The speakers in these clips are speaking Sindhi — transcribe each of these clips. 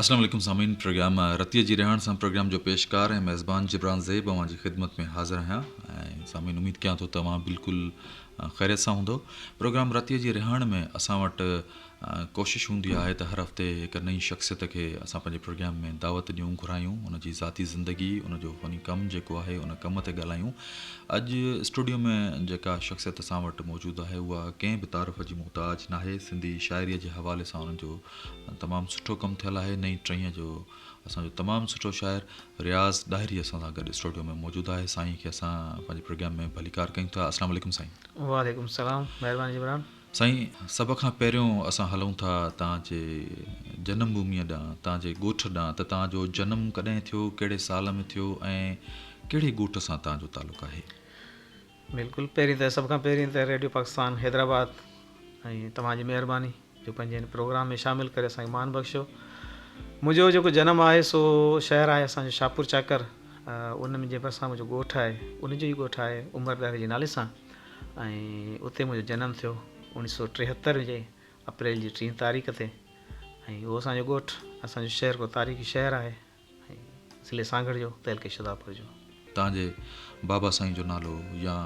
اسلام عليڪم سامعين پروگرام رتيء جي رهاڻ سان پروگرام جو پيشڪار ۽ ميزبان جبران زيب اوهان جي خدمت ۾ حاضر آهيان ۽ سامعين اميد ڪيان ٿو ته اوهان بلڪل خيريت سان هوندو پروگرام رتيء جي رهاڻ ۾ اسان وٽ ڪوشش هوندي آهي ته هر هفتي هڪ نئين شخصيت کي اسان پنهنجي پروگرام ۾ دعوت ڏيون گهرايون ان جي ذاتي زندگي ان جو فني ڪم جيڪو آهي ان ڪم تي ڳالهايون اڄ اسٽوڊيو ۾ جيڪا شخصيت اسان وٽ موجود آهي اها ڪنهن به تعارف جي محتاج ناهي سنڌي شاعريء جي حوالي سان ان جو تمام سٺو ڪم ٿيل آهي نئين ٽهيء جو اسان جو تمام سٺو شاعر رياض ڏاهري اسان سان گڏ اسٽوڊيو ۾ موجود آهي سائين کي اسان پنهنجي پروگرام ۾ ڀليڪار ڪيون ٿا السلام عليڪم سائين. وعليڪم السلام مهرباني جبران. سائين سڀ کان پهريون اسان هلون ٿا توهان جي جنم ڀوميء ڏانهن توهان جي ڳوٺ ڏانهن ته توهان جو جنم ڪڏهن ٿيو ڪهڙي سال ۾ ٿيو ۽ ڪهڙي ڳوٺ سان توهان جو تعلق آهي. بلڪل پهرين ته سڀ کان پهرين ته ريڊيو پاڪستان حيدرآباد ۽ توهان جي مهرباني جو پنهنجي هن پروگرام ۾ شامل ڪري اسان کي مان بخشيو منهنجو جيڪو جنم آهي سو شهر آهي اسان جو شاهپور چاڪر ان جي ڀرسان منهنجو ڳوٺ آهي ان جو ئي ڳوٺ آهي عمر ڏاهري جي نالي سان ۽ اتي منهنجو جنم ٿيو اوڻيھ سو ٽيهتر جي اپريل جي ٽيهين تاريخ تي ۽ اهو اسان جو ڳوٺ اسان جو شهر ڪو تاريخي شهر آهي ضلعي سانگهڙ جو تعلقي شھدادپور جو. تان جي بابا سائين جو نالو يا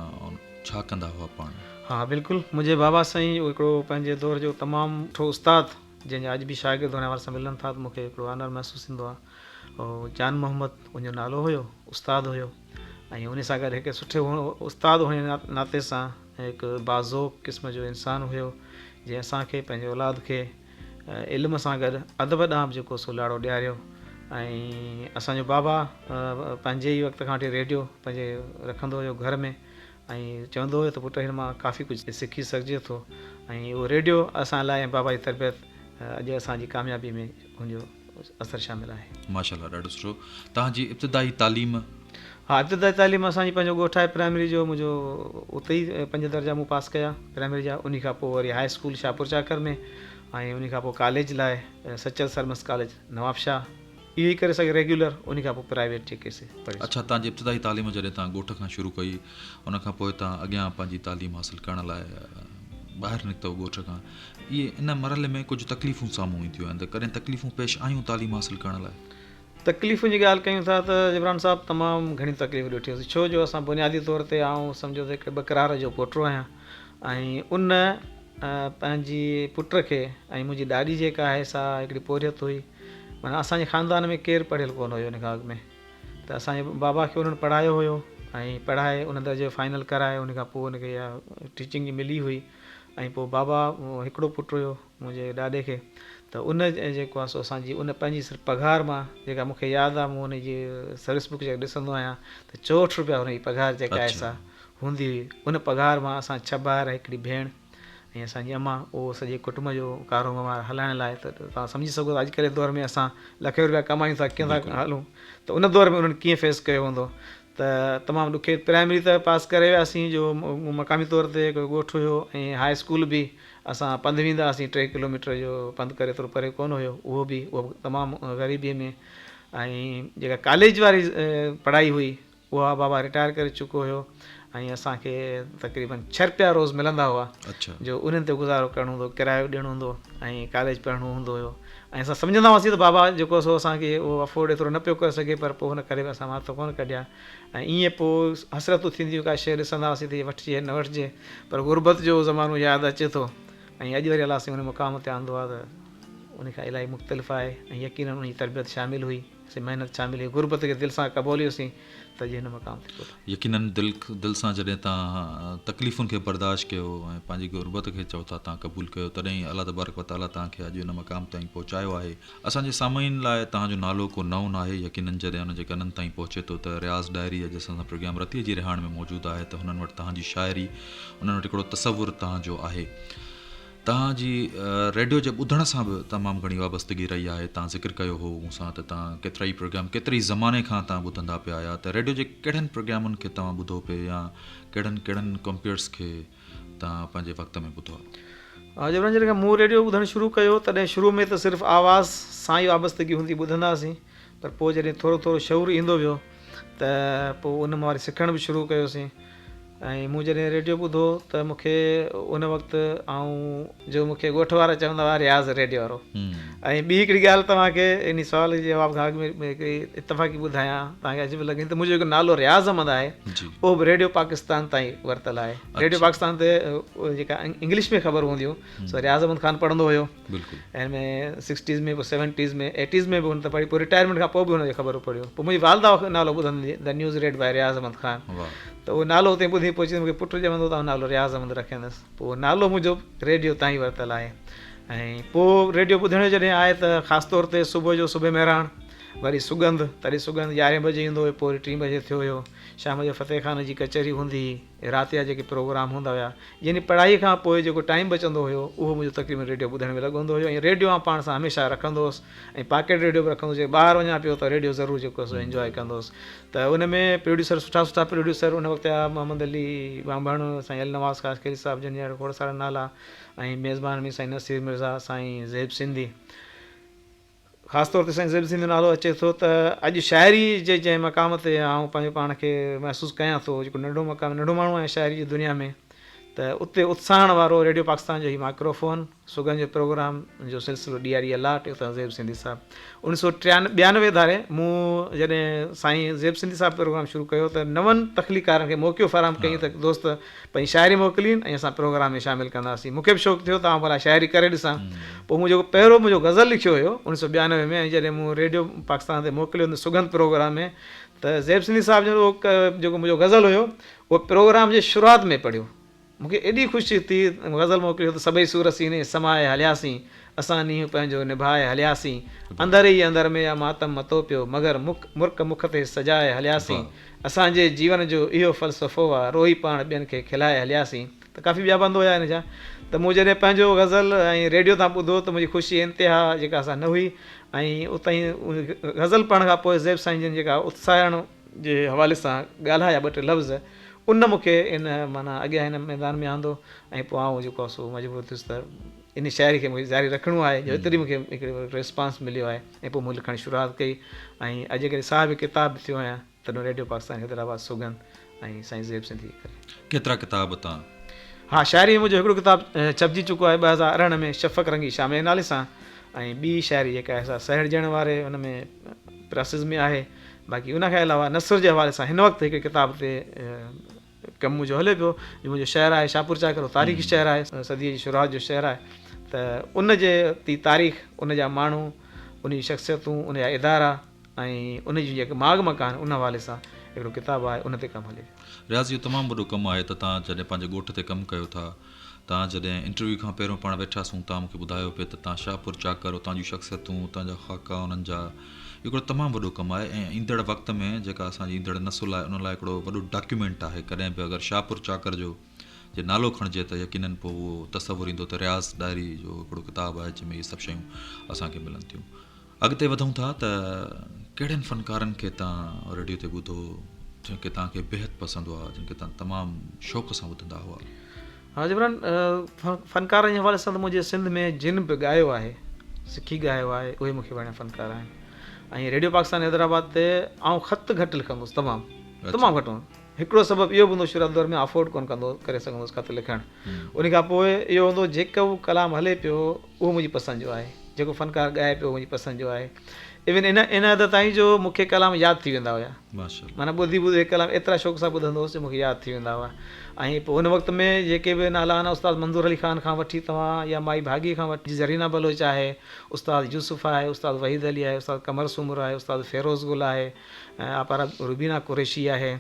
ڇا ڪندا هئا پاڻ؟ ها بلڪل منهنجي بابا سائين هڪڙو پنهنجي دور جو تمام سٺو استاد جنهن جا اڄ به شاگرد هن حوالي سان ملن ٿا ته مون کي هڪڙو آنر محسوس ٿيندو آ جان محمد ان جو نالو هيو استاد هيو ۽ انهي سان گڏ هڪ سٺي استاد هئڻ جي ناتي سان هڪ باذوق قسم جو انسان هيو جنهن اسان کي پنهنجي اولاد کي علم سان گڏ ادب ڏانهن به جيڪو سو لاڙو ڏياريو ۽ اسان جو بابا پنهنجي ئي وقت کان وٺي ريڊيو پنهنجي رکندو هيو گهر ۾ ۽ چوندو هيو ته پٽ هن مان ڪافي ڪجهه سکي سگهجي ٿو ۽ اهو ريڊيو اسان لاء ۽ بابا جي تربيت اڄ اسان جي ڪاميابي ۾ ان جو اثر شامل آهي. ماشاء الله ڏاڍو سٺو توهان جي ابتدائي تعليم. ها ابتدائي تعليم اسان جي پنهنجو ڳوٺ آهي پرائمري جو منهنجو اتي ئي پنج درجا مون پاس ڪيا پرائمري جا انهي کان پوء وري هاء اسڪول شاهپور چاڪر ۾ ۽ انهي کان پوء ڪاليج لاء سچل سرمست ڪاليج نوابشاهه اهو ئي ڪري سگهي ريگيولر انهي کان پوء پرائيويٽ جيڪي سي پڙهي اڇا توهان جي ابتدائي تعليم جڏهن توهان ڳوٺ کان شروع ڪئي ان کان پوء توهان اڳيان پنهنجي تعليم حاصل ڪرڻ لاء ٻاهر نڪتؤ ڳوٺ کان اهي ان مرحلي ۾ ڪجهه تڪليفون سامهون اينديون آهن ته ڪڏهن تڪليفون پيش آيون تعليم حاصل ڪرڻ لاء؟ تڪليفن جي ڳالهه ڪيون ٿا ته جبران صاحب تمام گهڻيون تڪليفون ڏٺيون ڇو جو اسان بنيادي طور تي آئون سمجهو ته هڪ ٻه ڪرار جو پوٽو آهيان ۽ ان پنهنجي پٽ کي ۽ منهنجي ڏاڏي جيڪا آهي سا هڪڙي پورهيت هئي معنيٰ اسان جي خاندان ۾ ڪير پڙهيل ڪونه هيو ان کان اڳ ۾ ته اسان جي بابا کي انهن پڙهايو هيو ۽ پڙهائي ان درجي جو فائنل ڪرائي ان کان پوء ان کي اها ٽيچنگ جي ملي هئي ۽ پوء بابا هڪڙو پٽ هيو منهنجي ڏاڏي کي ته ان جيڪو آهي سو اسان جي ان پنهنجي صرف پگهار مان جيڪا مون کي ياد آهي مون ان جي سروس بڪ جيڪا ڏسندو آهيان ته چوهٺ رپيا هن جي پگهار جيڪا آهي سا هوندي هئي ان پگهار مان اسان ڇهه ڀائر ۽ هڪڙي ڀيڻ ۽ اسان جي امان اهو سڄي ڪٽنب جو ڪارو وهنوار هلائڻ لاء ته توهان سمجهي سگهو ٿا اڄڪلهه جي دور ۾ اسان لکين رپيا ڪمايون ٿا ڪيئن ٿا هلون ته ان دور ۾ انهن ڪيئن فيس ڪيو هوندو ته تمام ڏکي پرائمري ته پاس ڪري وياسين جو مقامي طور تي هڪڙو ڳوٺ هيو ۽ هاء اسڪول به اسان پنڌ ويندا هئاسين ٽي ڪلوميٽر جو پنڌ ڪري ايترو پري ڪونه هيو اهو به اهو به تمام غريبي ۾ ۽ جيڪا ڪاليج واري پڙهائي هئي اها بابا رٽائر ڪري چڪو هيو ۽ اسان کي تقريبن ڇهه رپيا روز ملندا هئا جو انهن تي گذارو ڪرڻو هوندو هو ڪرايو ڏيڻو هوندو هو ۽ ڪاليج پڙهڻو هوندو هيو ۽ اسان سمجهندا هئاسين ته بابا جيڪو سو اسان کي اهو افورڊ ايترو نه پيو ڪري سگهي پر پوء هن ڪڏهن به اسان وات ڪونه ڪڍي آ ۽ ائين پوء حسرتون ٿينديون ڪا شيء ڏسندا هئاسين ته هي وٺجي يا نه وٺجي پر غربت جو اهو زمانو ياد اچي ٿو ۽ اڄ وري الله سائين ان مقام تي آندو آ ته ان کان الائي مختلف آهي ۽ يقينن ان جي تربيت شامل هئي. سي محنت شامل هئي. غربت کي دل سان قبوليو سين ته اڄ هن مقام تي پهتا. يقينن دل سان جڏهن تان تڪليفن کي برداشت ڪيو ۽ پنهنجي غربت کي چئو ٿا تان قبول ڪيو تڏهن ئي الله تبارڪ و تعالي تان کي اڄ ان مقام تائين پهچايو آهي. اسان جي سامعين لاء تان جو نالو ڪو نئون ناهي يقينن جڏهن ان جي ڪنن تائين پهچي ٿو ته رياض ڏاهري اڄ اسان سان پروگرام رتيء جي رهاڻ ۾ موجود آهي ته هنن وٽ تان جي شاعري انهن وٽ هڪڙو تصور تان جو آهي. توهان جي ريڊيو جي ٻڌڻ سان به تمام گهڻي وابستگي رهي آهي، توهان ذڪر ڪيو هو مون سان ته توهان ڪيترائي پروگرام ڪيتري ئي زماني کان توهان ٻڌندا پيا آيا ته ريڊيو جي ڪهڙن پروگرامن کي توهان ٻڌو پئي يا ڪهڙن ڪهڙن ڪمپيئرز کي توهان پنهنجي وقت ۾ ٻڌو آهي. ها جبران جڏهن کان مون ريڊيو ٻڌڻ شروع ڪيو تڏهن شروع ۾ ته صرف آواز سان ئي وابستگي هوندي ٻڌندا هئاسين پر پوء جڏهن ٿورو ٿورو شعور ايندو ويو ته پوء ان مان وري سکڻ به شروع ڪيوسين ۽ مون جڏهن ريڊيو ٻڌو ته مون کي ان وقت آئون جو مون کي ڳوٺ وارا چوندا هئا رياض ريڊيو وارو ۽ ٻي هڪڙي ڳالهه توهان کي ان سوال جي جواب کان اڳ ۾ هڪڙي اتفاقي ٻڌايان توهان کي عجيب لڳي ته منهنجو جيڪو نالو رياض احمد آهي اهو به ريڊيو پاڪستان تان ئي ورتل آهي ريڊيو پاڪستان تي جيڪا انگلش ۾ خبرون هونديون سو رياض احمد خان پڙهندو هيو بلڪل ان ۾ سڪسٽيز ۾ به سيونٽيز ۾ ايٽيز ۾ به هن ته پڙهي پوء رٽائرمينٽ کان پوء به هن جي خبرون پڙهيو پوء منهنجي والده کان نالو ٻڌندي The News Read By Riyaz Ahmad Khan ته اهو نالو اتي ٻڌي پوء چيو مون کي پٽ ڄمندو ته آئون نالو رياض احمد رکيندس پوء اهو نالو منهنجو ريڊيو تان ئي ورتل آهي ۽ پوء ريڊيو ٻڌڻ جو جڏهن آهي ته خاص طور تي صبح جو صبح مهراڻ وري سڳنڌ تڏهن سڳنڌ يارهين بجي ايندو هيو پوء وري ٽي بجي ٿيو هيو شام جو فتح خان جي ڪچهري هوندي هئي رات جا جيڪي پروگرام هوندا هيا يعني پڙهائي کان پوء جيڪو ٽائيم بچندو هيو اهو منهنجو تقريبن ريڊيو ٻڌڻ ۾ لڳو هوندو هيو ۽ ريڊيو آئون پاڻ سان هميشه رکندو هوس ۽ پاڪيٽ ريڊيو به رکندو هوس ٻاهر وڃان پيو ته ريڊيو ضرور جيڪو سو انجواء ڪندو هوس ته ان ۾ پروڊيوسر سٺا سٺا پروڊيوسر ان وقت جا محمد علي ٻانڀڻ سائين النواز خاصخيلي صاحب جن جا کوڙ سارا نالا ۽ ميزبان مير سائين نصير مرزا سائين زيب سنڌي خاص طور تي سائين زيب سنڌ جو نالو اچي ٿو ته اڄ شاعري جي جنهن مقام تي آئون پنهنجو پاڻ کي محسوس ڪيان ٿو جيڪو ننڍو مقام ننڍو ماڻهو آهيان شاعري جي دنيا ۾ ته اتي اتساهڻ وارو ريڊيو پاڪستان جو هي مائڪرو فون سگهن جو پروگرام جو سلسلو ڏي آري الاٽ اتان زيب سنڌي صاحب انيس سو ٽيان ٻيانوي ڌاري مون جڏهن سائين زيب سنڌي صاحب پروگرام شروع ڪيو ته نون تخليقارن کي موقعو فراهم ڪيائين ته دوست پنهنجي شاعري موڪلين ۽ اسان پروگرام ۾ شامل ڪنداسين. مون کي به شوق ٿيو ته آئون ڀلا شاعري ڪري ڏسان. پوء مون جيڪو پهريون منهنجو غزل لکيو هيو اڻويهه سؤ ٻيانوي ۾ ۽ جڏهن مون ريڊيو پاڪستان تي موڪليو ان سگنڌ پروگرام ۾ ته زيب سنڌي صاحب جن اهو جيڪو منهنجو غزل هيو اهو پروگرام جي شروعات ۾ پڙهيو. مون کي ايڏي خوشي ٿي غزل موڪلي هو ته سڀئي سور سيني سمائي هلياسين. اسان نينهن پنهنجو نڀائي هلياسين. اندر ئي اندر ۾ اها ماتم متو پيو، مگر مک مرڪ مک تي سجائي هلياسين. اسان جي جيون جو اهو فلسفو آ، روئي پاڻ ٻين کي کلائي هلياسين. ته ڪافي ٻيا بند هيا هن جا ته مون جڏهن پنهنجو غزل ائين ريڊيو تان ٻڌو ته منهنجي خوشي انتها جيڪا سا نه هئي ۽ اتان ئي غزل پڙهڻ کان پوء زيب سائين جن جيڪا اتساهڻ جي حوالي سان ڳالهايا ٻه ٽي لفظ ان مون کي ان معنيٰ اڳيان هن ميدان ۾ آندو ۽ پوء آئون جيڪو سو مجبور ٿيس ته ان شاعري کي مون کي جاري رکڻو آهي جو ايتري مون کي هڪڙو ريسپانس مليو آهي ۽ پوء مون لکڻ جي شروعات ڪئي ۽ اڄ جيڪڏهن صاحب ڪتاب به ٿيو آهيان ته نو ريڊيو پاڪستان حيدرآباد سوگند ۽ سائين زيب سنڌيء جي ڪري. ڪيترا ڪتاب اتان؟ ها شاعري منهنجو هڪڙو ڪتاب ڇپجي چڪو آهي ٻه هزار ارڙهن ۾ شفق رنگي شاميء جي نالي سان ۽ ٻي شاعري جيڪا آهي سا سهيڙجڻ واري ان ۾ پراسز ۾ آهي باقي ان کان علاوه نثر جي حوالي سان هن وقت هڪڙي ڪتاب تي ڪم منهنجو هلي پيو جو منهنجو شهر آهي شاهپور چاڪر تاريخي شهر آهي صديء جي شروعات جو شهر آهي ته ان جي تي تاريخ ان جا ماڻهو ان جي شخصيتون ان جا ادارا ۽ ان جون جيڪي ماڳ مڪان آهن ان حوالي سان هڪڙو ڪتاب آهي ان تي ڪم هلي پيو. رياض اهو تمام وڏو ڪم آهي ته تان جڏهن پنهنجي ڳوٺ تي ڪم ڪيو ٿا. تان جڏهن انٽرويو کان پهريون پاڻ ويٺا سون تان مون کي ٻڌايو پئي ته تان شاهپور چاڪر اتان جون شخصيتون اتان جا خاڪا انهن جا هڪڙو تمام وڏو ڪم آهي ۽ ايندڙ وقت ۾ جيڪا اسان جي ايندڙ نسل آهي انهن لاء هڪڙو وڏو ڊاڪيومينٽ آهي ڪڏهن به اگر شاهپور چاڪر جو جي نالو کڻجي ته يقينن پوء اهو تصور ايندو ته رياض ڏاهري جو هڪڙو ڪتاب آهي جنهن ۾ اهي سڀ شيون اسان کي ملن ٿيون. اڳتي وڌون ٿا ته ڪهڙن فنڪارن کي تان ريڊيو تي ٻڌو جن کي تان کي بيحد پسند هئا جن کي تان تمام شوق سان ٻڌندا هئا. ها جبران فنڪارن جي حوالي سان ته منهنجي سنڌ ۾ جن به ڳايو آهي سکي ڳايو آهي اهي مون کي وڻيا فنڪار آهن ۽ ريڊيو پاڪستان حيدرآباد تي آئون خط گهٽ لکندو هوس تمام تمام گهٽ هڪڙو سبب اهو به هوندو شروعاتي دور ۾ افورڊ ڪونه ڪندو ڪري سگهندوس خط لکڻ انهي کان پوء اهو هوندو جيڪو ڪلام هلي پيو اهو منهنجي پسند جو آهي جيڪو فنڪار ڳائي پيو اهو منهنجي پسند جو آهي ايون ان ان حد تائين جو مون کي ڪلام ياد ٿي ويندا هيا معنيٰ ٻڌي ٻڌي هڪ ڪلام ايترا شوق سان ٻڌندو هوس جو مون کي ياد ٿي ويندا هئا ۽ پوء ان وقت ۾ جيڪي به نالا آهن استاد منظور علي خان کان وٺي توهان يا مائي ڀاڳي کان وٺي زرينا بلوچ آهي استاد يوسف آهي استاد وحيد علي آهي استاد قمر سومرو آهي استاد فيروز گل آهي ۽ آپارا روبينا قريشي آهي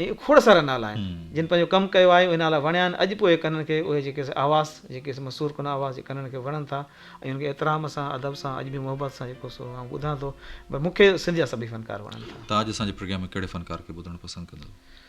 ۽ کوڙ سارا نالا آهن جن پنهنجو ڪم ڪيو آهي اهي نالا وڻيا آهن اڄ به اهي ڪنن کي اهي جيڪي آواز جيڪي مسور ڪن آواز جي ڪنن کي وڻن ٿا ۽ ان کي احترام سان ادب سان اڄ به محبت سان جيڪو سو آئون ٻڌان ٿو پر مون کي سنڌ جا سڀئي فنڪار وڻن ٿا تاج اسان جي پروگرام ۾ ڪهڙي فنڪار کي ٻڌڻ پسند ڪندو؟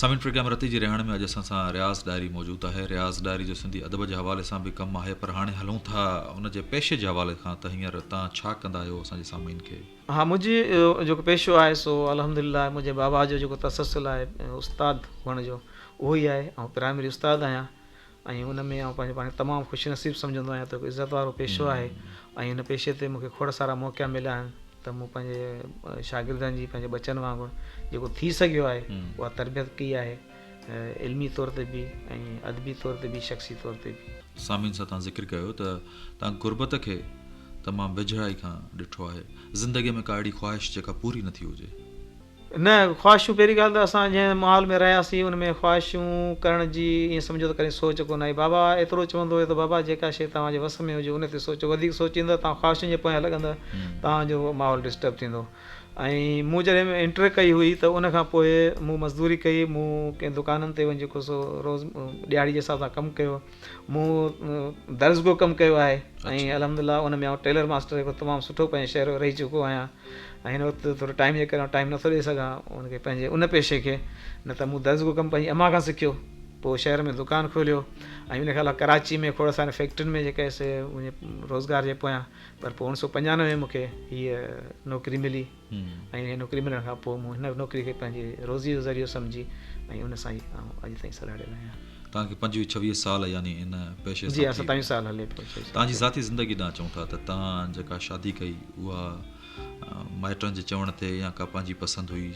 سامعين پروگرام رتي جي رهاڻي ۾ اڄ اسان سان رياض ڏاهري موجود آهي رياض ڏاهري جو سنڌي ادب جي حوالي سان به ڪم آهي پر هاڻي هلون ٿا ان جي پيشي جي حوالي کان ته هينئر تان ڇا ڪندا آهيو اسان جي سامعين کي. ها منهنجي جيڪو پيشو آهي سو الحمد لله منهنجي بابا جو جيڪو تسلسل آهي استاد هئڻ جو اهو ئي آهي آئون پرائمري استاد آهيان. ۽ ان ۾ آئون پنهنجو پاڻ تمام خوش نصيب سمجهندو آهيان ته هڪ عزت وارو پيشو آهي ۽ ان پيشي تي مون کي کوڙ سارا موقعا مليا آهن ته مون پنهنجي شاگردن جي پنهنجي ٻچن وانگر جيڪو ٿي سگهيو آهي اها تربيت ڪئي آهي علمي طور تي به ۽ ادبي طور تي به شخصي طور تي به. سامعين سان تان ذڪر ڪيو ته تان غربت کي تمام ويجهڙائي کان ڏٺو آهي زندگي ۾ ڪا اهڙي خواهش جيڪا پوري نه ٿي هجي. نه، خواهشون پهرين ڳالهه ته اسان جنهن ماحول ۾ رهياسين ان ۾ خواهشون ڪرڻ جي ائين سمجهو ته ڪڏهن سوچ ڪونه آئي. بابا ايترو چوندو هيو ته بابا جيڪا شيء توهان جي وس ۾ هجي ان تي سوچو، وڌيڪ سوچيندا توهان خواهشن جي پويان لڳندا توهان جو ماحول ڊسٽرب ٿيندو ۽ مون جڏهن انٽر ڪئي هئي ته ان کان پوء مون مزدوري ڪئي، مون ڪئين دڪانن تي وڃي جيڪو سو روز ڏهاڙي جي حساب سان ڪم ڪيو. مون درس گوھ ڪم ڪيو آهي ۽ الحمد الله ان ۾ آئون ٽيلر ماستر هڪڙو تمام سٺو پنهنجي شهر ۾ رهي چڪو آهيان ۽ هن وقت ٿورو ٽائيم جي ڪري ٽائيم نٿو ڏئي سگهان ان کي پنهنجي ان پيشي کي نه ته مون درس گوھ ڪم پنهنجي امان کان سکيو پوء شهر ۾ دڪان کوليو ۽ ان کان علاوه ڪراچي ۾ کوڙ ساري فيڪٽرين ۾ جيڪي سي روزگار جي پويان پر پوء اوڻيھ سو پنجانوي ۾ مون کي هيء نوڪري ملي ۽ هي نوڪري ملڻ کان پوء مون هن نوڪري کي پنهنجي روزيء جو ذريعو سمجهي ۽ ان سان ئي آئون اڄ تائين سلهاڙيل آهيان. توهان کي پنجويهه ڇويهه سال يعني ان پيشي سان ٿي ويا. جي ها ستاويهه سال هلي پيو. توهان جي ذاتي زندگي ڏانهن چئون ٿا ته توهان جيڪا شادي ڪئي اها مائٽن جي چوڻ تي يا ڪا پنهنجي پسند هئي؟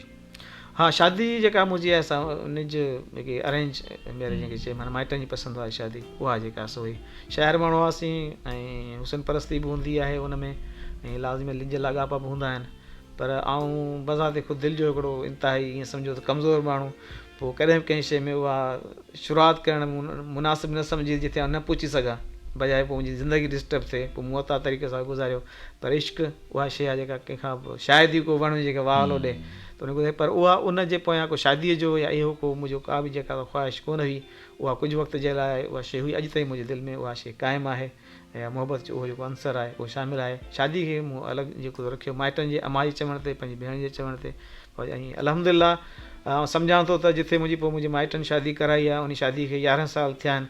ها شادي جيڪا منهنجي آهي سا نج جيڪي ارينج ميرج جنهن کي چئبو آهي مائٽن جي پسند واري شادي اها جيڪا سو هئي شاعر ماڻهو هئاسين ۽ حسن پرستي به هوندي آهي ان ۾ ۽ لازمي لڄ لاڳاپا به هوندا آهن پر آئون بذات خود دل جو هڪڙو انتهائي ائين سمجهو ته ڪمزور ماڻهو پوء ڪڏهن به ڪنهن شيء ۾ اها شروعات ڪرڻ مناسب نه سمجهي جتي آئون نه پهچي سگهان بجاء پوء منهنجي زندگي ڊسٽرب ٿئي پوء مون عطا طريقي سان گذاريو پر عشق اها شيء آهي جيڪا ڪنهن کان به شايد ئي ڪو وڻ هجي جيڪا واهه هلو ڏئي ته ان کي ٻڌائي پر اها ان جي پويان ڪو شاديء جو يا اهو ڪو منهنجو ڪا به جيڪا اها خواهش ڪونه هئي اها ڪجهه وقت جي لاء اها شيء هئي اڄ تائين منهنجي دل ۾ اها شيء قائم آهي ۽ محبت جو اهو جيڪو عنصر آهي اهو شامل آهي شادي کي مون الڳ جيڪو ٿو رکيو مائٽن جي امان جي چوڻ تي پنهنجي ڀيڻ جي چوڻ تي پر ائين الحمد لله آئون سمجهان ٿو ته جتي منهنجي پوء منهنجي مائٽن شادي ڪرائي آهي ان شادي کي يارهن سال ٿيا آهن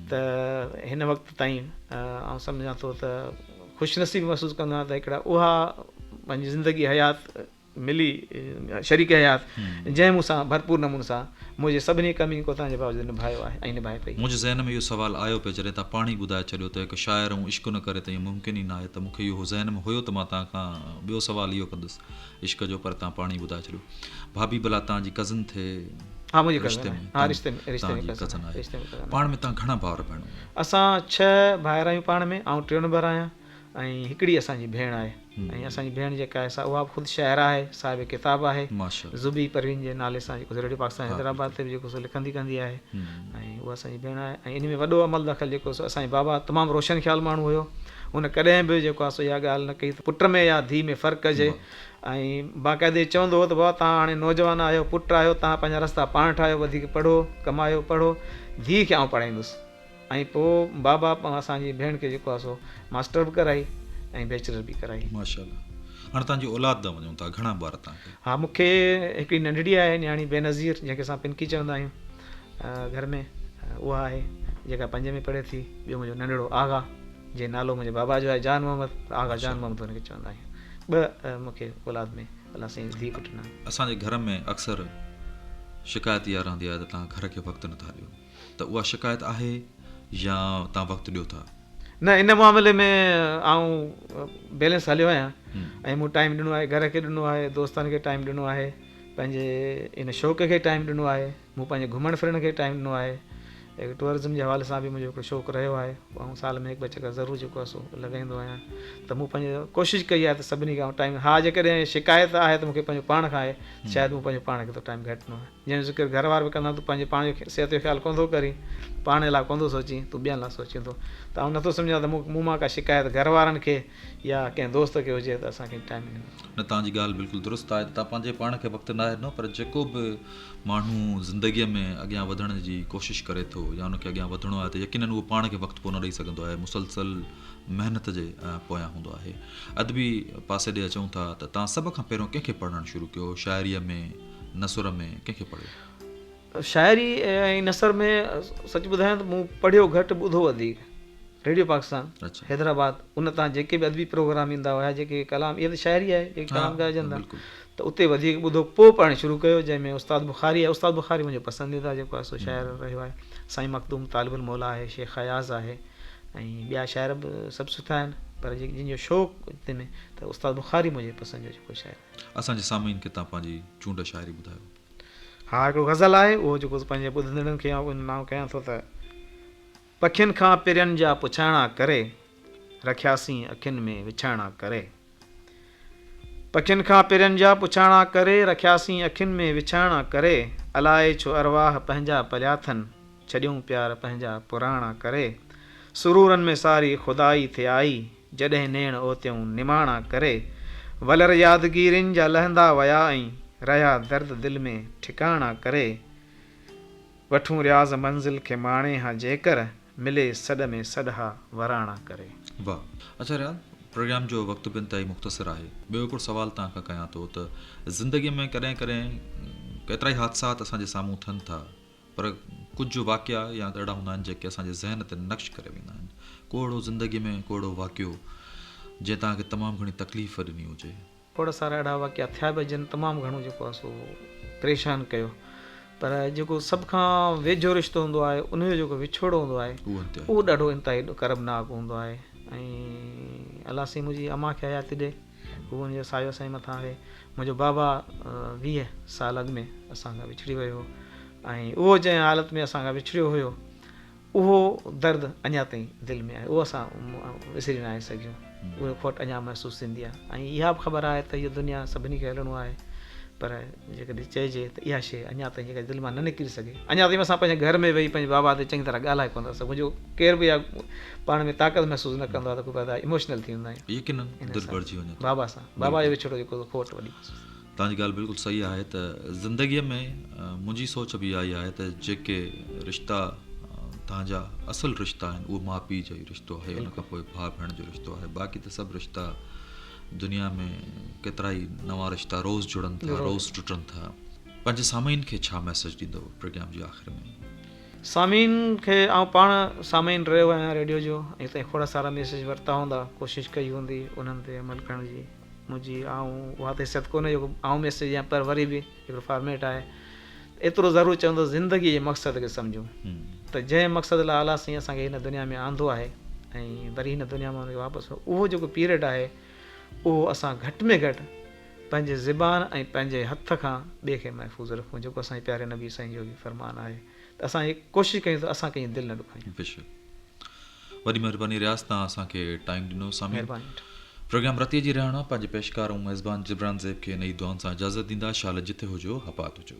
ته هن وقت تائين آئون سمجهان ٿو ته خوش نصيبي محسوس ڪندو آهيان ته هڪڙا اها پنهنجي زندگي حيات ملي شريڪ حيات جنهن مون سان ڀرپور نموني سان منهنجي سڀني ڪمين ڪوتاهين جي باوجود نڀايو آهي ۽ نڀائي پئي. منهنجي ذهن ۾ اهو سوال آيو پئي جڏهن تان پاڻ ئي ٻڌائي ڇڏيو ته هڪ شاعر ۽ عشق نه ڪري ته اهو ممڪن ئي ناهي ته مون کي اهو ذهن ۾ هيو ته مان تان کان ٻيو سوال اهو ڪندس عشق جو پر تان پاڻي ٻڌائي ڇڏيو ڀاڀي بلا تان جي ڪزن ٿي ها منهنجي ڪزن آهي ها رشتي ۾ رشتي ۾ ڪزن آهي رشتي ۾ ڪزن پاڻ ۾ تان گهڻا ڀائر ڀيڻون آهن اسان ڇهه ڀائر آهيون پاڻ ۾ آئون ٽيون نمبر آهيان ۽ هڪڙي اسان جي ڀيڻ آهي ۽ اسان جي ڀيڻ جيڪا آهي سا اها به خود شاعره آهي صاحب ڪتاب آهي زبي پروين جي نالي سان جيڪو ريڊيو پاڪستان حيدرآباد تي به جيڪو سو لکندي ڪندي آهي ۽ اها اسان جي ڀيڻ آهي ۽ ان ۾ وڏو عمل دخل جيڪو سو اسان جي بابا تمام روشن خيال ماڻهو هيو هن ڪڏهن به جيڪو آهي سو اها ڳالهه نه ڪئي ته پٽ ۾ يا ڌيء ۾ فرق ڪجي ۽ باقاعدي هي چوندو هو ته بابا توهان هاڻي نوجوان آهيو پٽ آهيو توهان پنهنجا رستا پاڻ ٺاهيو وڌيڪ پڙهو ڪمايو پڙهو ڌيء کي آئون پڙهائيندس ۽ پوء بابا اسان جي ڀيڻ کي جيڪو آهي سو ماسٽر به ڪرائي ۽ بيچلر به ڪرائي. ماشاء الله هاڻي توهان جي اولاد ڏانهن وڃون ٿا گهڻا ٻار توهان کي؟ ها مون کي هڪڙي ننڍڙي آهي نياڻي بينظير جنهن کي اسان پنڪي چوندا آهيون. گهر ۾ اها آهي جيڪا پنجين ۾ پڙهي ٿي، ٻيو منهنجو ننڍڙو آغا، جنهن نالو منهنجي بابا جو آهي جان محمد، آغا جان محمد هن کي چوندا آهيون. ٻه مون کي اولاد ۾ الله سائين ڌيء پٽ ڏنا. اسان جي گهر ۾ اڪثر شڪايت اها رهندي آهي ته توهان گهر کي وقت نٿا ڏيو ته اها شڪايت آهي يا توهان وقت ڏيو ٿا؟ نه ان معاملي ۾ آئون بيلنس هليو آهيان ۽ مون ٽائيم ڏنو آهي، گهر کي ڏنو آهي، دوستن کي ٽائيم ڏنو آهي. پنهنجي ان شوق کي ٽائيم ڏنو آهي مون پنهنجي گهمڻ ڦرڻ کي ٽائيم ڏنو آهي اهڙي ٽوئرزم جي حوالي سان به منهنجو هڪڙو شوق رهيو آهي آئون سال ۾ هڪ ٻه چڪر ضرور جيڪو آهي سو لڳائيندو آهيان ته مون پنهنجي ڪوشش ڪئي آهي ته سڀني کي آئون ٽائيم ها جيڪڏهن شڪايت آهي ته مونکي پنهنجو پاڻ کان آهي شايد مون پنهنجو پاڻ کي ٿو ٽائيم گهٽ ڏنو آهي جنهن جو ذڪر گهر وارا به ڪندا تو پنهنجي پاڻ جو صحت جو خيال ڪونه ٿو ڪرين پاڻ لاء ڪونه ٿو سوچين تون ٻين لاء سوچين ٿو ته آئون نٿو سمجهان ته مون مون مان ڪا شڪايت گهر وارن کي يا ڪنهن دوست کي هجي ته اسان کي ٽائيم ڏيو. نه توهان جي ڳالهه بلڪل درست آهي ته توهان پنهنجي پاڻ کي وقت ناهي ڏنو پر جيڪو به ماڻهو زندگي ۾ اڳيان وڌڻ جي ڪوشش ڪري ٿو يا ان کي اڳيان وڌڻو آهي ته يقينن اهو پاڻ کي وقت ڪونه ڏئي سگهندو آهي مسلسل محنت جي پويان هوندو آهي ادبي پاسي ڏي اچون ٿا ته توهان سڀ کان پهريون ڪنهن کي پڙهڻ شروع ڪيو شاعري ۾ نثر ۾ ڪنهن کي پڙهيو؟ شاعري ۽ نثر ۾ سچ ٻڌايان ته مون پڙهيو گهٽ ٻڌو وڌيڪ ريڊيو پاڪستان حيدرآباد ان تان جيڪي به ادبي پروگرام ايندا هيا جيڪي ڪلام اها ته شاعري آهي جيڪي ڪلام ڳائجن ٿا ته اتي وڌيڪ ٻڌو پوء پڙهڻ شروع ڪيو جنهن ۾ استاد بخاري آهي استاد بخاري منهنجو پسنديده جيڪو آهي سو شاعر رهيو آهي سائين مخدوم طالب الموليٰ آهي شيخ اياز آهي ۽ ٻيا شاعر به سڀ سٺا آهن پر جيڪي جن جو شوق تنهن ۾ ته استاد بخاري منهنجي پسند جو جيڪو شاعر اسان جي سامعين کي تان پنهنجي چونڊ شاعري ٻڌايو ھا ھڪڙو غزل آھي اھو جيڪو پنھنجي ٻڌندڙن کي آئون انماڻ ڪيان ٿو ته. پکين کان پرين جا پڇائڻا ڪري، رکياسين اکين ۾ وڇائڻا ڪري. پکين کان پرين جا پڇائڻا ڪري، رکياسين اکين ۾ وڇائڻا ڪري. الائي ڇو ارواح پنھنجا پليا ٿن، ڇڏيون پيار پنھنجا پراڻا ڪري. سرورن ۾ ساري خدائي ٿي آئي، جڏهن نيڻ اوتيئون نماڻا ڪري، ولر يادگيرين جا لهندا ويا ۽ رهيا درد دل ۾ ٺڪاڻا ڪري، وٺون رياض منزل کي ماڻي ها جيڪر، ملي سڏ ۾ سڏ ها وراڻا ڪري. واھ اچا رياض پروگرام جو وقت به انتهائي مختصر آهي ٻيو هڪڙو سوال توهان کان ڪيان ٿو ته زندگي ۾ ڪڏهن ڪڏهن ڪيترائي حادثات اسان جي سامهون ٿين ٿا پر ڪجهه واقعا يا ته اهڙا هوندا آهن جيڪي اسان جي ذهن تي نقش ڪري ويندا آهن. ڪو اهڙو زندگي ۾ ڪو اهڙو واقعو جنهن توهان کي تمام گهڻي تڪليف ڏني هجي. کوڙ سارا اهڙا واقعا ٿيا به جن تمام گهڻو جيڪو آهي سو پريشان ڪيو پر جيڪو سڀ کان ويجهو رشتو هوندو آهي ان جو جيڪو وڇوڙو هوندو آهي اهو ڏاڍو انتهائي ڏکربناڪ هوندو آهي ۽ الله سائين منهنجي امان کي حياتي ڏي. هو ان جو سايو اسانجي مٿان آهي. منهنجو بابا ويهه سال اڳ ۾ اسان کان وڇڙي ويو هو ۽ اهو جنهن حالت ۾ اسان کان وڇڙيو هيو اهو درد اڃا تائين دل ۾ آهي اهو اسان وسري ناهي سگهيون اهو کوٽ اڃا محسوس ٿيندي آهي ۽ اها به خبر آهي ته هيء دنيا سڀني کي هلڻو آهي پر جيڪڏهن چئجي ته اها شيء اڃا تائين جيڪا دل مان نه نڪري سگهي، اڃا تائين اسان پنهنجي گهر ۾ ويهي پنهنجي بابا تي چڱي طرح ڳالهائي ڪونه ٿا سگهون، جو ڪير به اها پاڻ ۾ طاقت محسوس نه ڪندو آهي ته ڪو به ادا ايموشنل ٿي ويندا آهيون. يقينن دل ڀرجي وڃي ٿو. بابا سان بابا جو وڇوڙو جيڪو کوٽ وڏي محسوس ٿي. توهان جي ڳالهه بلڪل صحيح آهي ته زندگيء ۾ منهنجي سوچ به اها ئي آهي ته جيڪي رشتا توهان جا اصل رشتا آهن اهو ماء پيء جو ئي رشتو آهي ان کان پوء ڀاء ڀيڻ جو رشتو آهي باقي ته سڀ رشتا دنيا ۾ ڪيترائي نوان رشتا روز جڙن ٿا روز ٽٽن ٿا پنهنجي سامعين کي ڇا ميسيج ڏيندو پروگرام جي آخر ۾. سامعين کي آئون پاڻ سامعين رهيو آهيان ريڊيو جو اڄ تائين کوڙا سارا ميسيج ورتا هوندا ڪوشش ڪئي هوندي انهن تي عمل ڪرڻ جي منهنجي آئون اها ته حيثيت ڪونهي جو آئون ميسيج ڏيان پر وري به هڪڙو فارميٽ آهي ته ايترو ضرور چون ته زندگي جي مقصد کي سمجهون ته جنهن مقصد لاء اعليٰ سائين اسان کي هن دنيا ۾ آندو آهي ۽ وري هن دنيا مان انکي واپس اهو جيڪو پيريڊ آهي اهو اسان گهٽ ۾ گهٽ پنهنجي زبان ۽ پنهنجي هٿ کان ٻئي کي محفوظ رکون جيڪو اسان جي پياري نبي سائين جو به فرمان آهي ته اسان هي ڪوشش ڪيون ته اسان ڪنهن جي دل نه ڏکايون وڏي مھرباني رياض تان اسان کي ٽائيم ڏنو سامعين پروگرام رتي جي رهاڻا پنهنجي پيشڪار ۽ ميزبان جبران زيب کي نئي دعائن سان اجازت ڏيندا شال جتي هجو هپات هجو